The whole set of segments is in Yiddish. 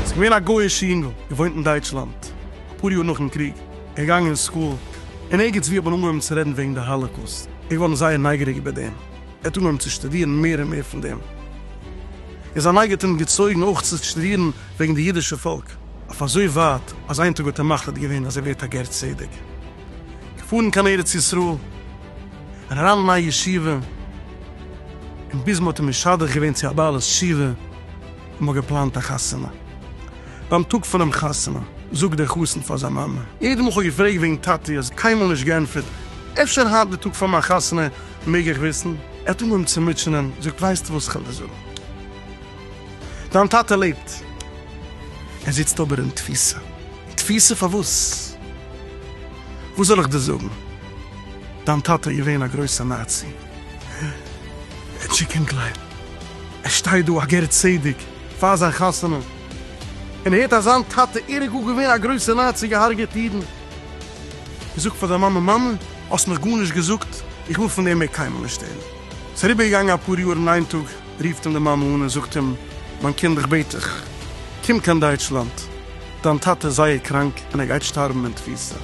איז געווען א גוי'אישע יונגל, געוואוינט אין דייטשלאנד, אפאר יאר נאכן קריג, ער איז געגאנגען אין סקול, און ערגעץ ווי האט מען אנגעהויבן צו רעדן וועגן די האלאקאוסט, ער איז געווארן זייער נייגעריג איבער דעם. ער האט אנגעהויבן צו שטודירן מער און מער פון דעם, און זיין נייגער האט אים געצויגן אויך צו שטודירן וועגן די אידישע פאלק, אויף אזוי ווייט אז איין טאג האט ער מחליט געווען אז ער ווערט א גר צדק, געפארן קיין ארץ ישראל און אריין אין א ישיבה, און ביז מען האט אים משדך געווען צו א בעלת תשובה און מען האט געפלאנט א חתונה. ביים טאג פונעם חתונה זאגט דער חתן פאר זיין מאמע. ער האט אים אויך געפרעגט וועגן טאטי, האסט קיינמאל נישט געענטפערט, אפשר היינט די טאג פאר מיין חתונה מעג איך וויסן? ער האט אנגעהויבן צו מוטשענען, זאגט ווייסטו וואס כ'על דיר זאגן, דיין טאטע לעבט, ער זיצט אבער אין תפיסה, אין תפיסה פארוואס? וואס זאל איך דיר זאגן, דיין טאטע איז געווען א גרויסע נאצי, טשיקענקלער, ער שטייט דא א גר צדק פאר זיין חתונה, און הערט אז זיין טאטע ער איז גאר געווען א גרויסע נאצי, געהארגעט אידן, און זאגט פאר די מאמע, מאמע, האסט מיך גארנישט געזאגט, איך וויל פון דעם מער קיינמאל נישט הערן. ס'איז אריבערגעגאנגען אפאר יאר און איין טאג רופט אים די מאמע אן און זאגט אים, מיין קינד איך בעט דיך, קום קיין דייטשלאנד, דיין טאטע איז זייער קראנק און ער גייט שטארבן אין תפיסה.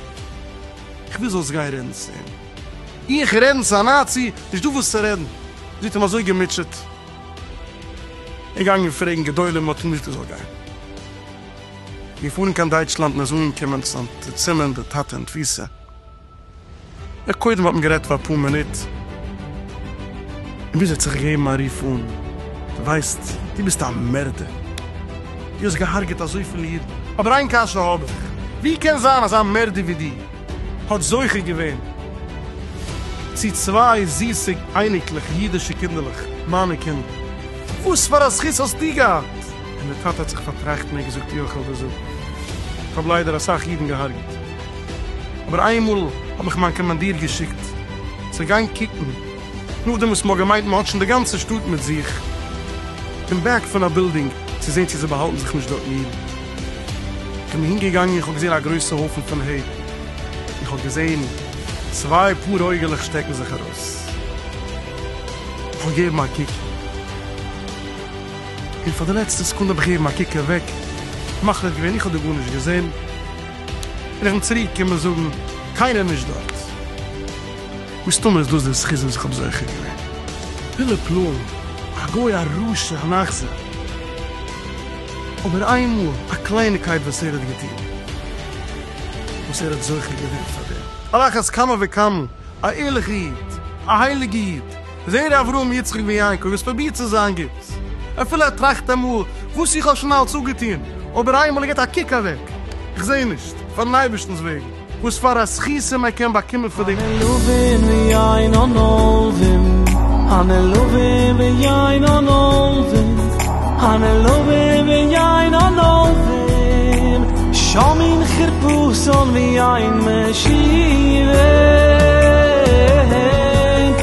איך וויל זאלסט גיין רעדן צו אים. איך רעדן צו א נאצי? נישט דא וואס צו רעדן. זי האט אים אזוי געמוטשעט. ער איז געגאנגען פרעגן גדולים, מען האט אים געזאגט ער זאל גיין. מיר פארן קיין דייטשלאנד און ער זאל אנקומען צום צימער און די טאטע אין תפיסה. יא קודם האט מען גערעדט פאר אפאר מינוט און ביז ער האט זיך געגעבן א רוף אן, דו ווייסט דו ביסט א מערדער, דו האסט געהארגעט אזויפיל אידן, אבער איין קשיא האב איך, ווי קען זיין אז א מערדער ווי דו האט זוכה געווען צו צוויי זיסע אייניקלעך, אידישע קינדערלעך, מיינע קינדער, וואס פאר א זכות האסטו געהאט? און דער טאטע האט זיך פארטראכטן און געזאגט, יאך, איך האב דאס איך האב ליידער אסאך אידן געהארגעט. אבער איינמאל האט מיך מיין קאמאנדיר געשיקט צו גיין קוקן, נאכדעם וואס מ'האט געמיינט מ'האט שוין די גאנצע שטאט מיט זיך, אין בעק פון א בילדינג צו זען צו זיי באהאלטן זיך נישט דארטן אידן. כ'בין אהין געגאנגען און כ'האב געזען א גרויסע הויפן פון ה', און כ'האב געזען צוויי פאר אויגעלעך שטעקן זיך ארויס. כ'האב געגעבן א קוק, און פאר די לעצטע סעקונדע האב איך געגעבן א קוק אוועק, מחליט געווען איך האב דא גארנישט געזען. און איך וויל צוריק קומען זאגן קיינער נישט דארט. מסתמא איז דאס דער זכות וואס איך האב זוכה געווען. פילע פלא'ן, א גוי א רשע אן אכזר. אבער איינמאל א קלייניקייט וואס ער האט געטון, וואס ער האט זוכה געווען פאר דעם. על אחת כמה וכמה א ערליכע איד, א הייליגע איד. זר אברהם יצחק בן יעקב איז פרובירט צו זיין גוט, אפילו ער טראכט אמאל, וואס איך האב שוין אלץ אפגעטון, אבער איינמאל ער גיבט א קוק אוועק, איך זעה נישט, פארן אייבערשטנ'ס וועגן, וואס פאר א זכותים ער קען באקומען פון די. הנעלבים ויין הנלווים, הנעלבים ויין הנלווים, הנעלבים ויין הנלווים, שומעים חרפות און ויין משיבים.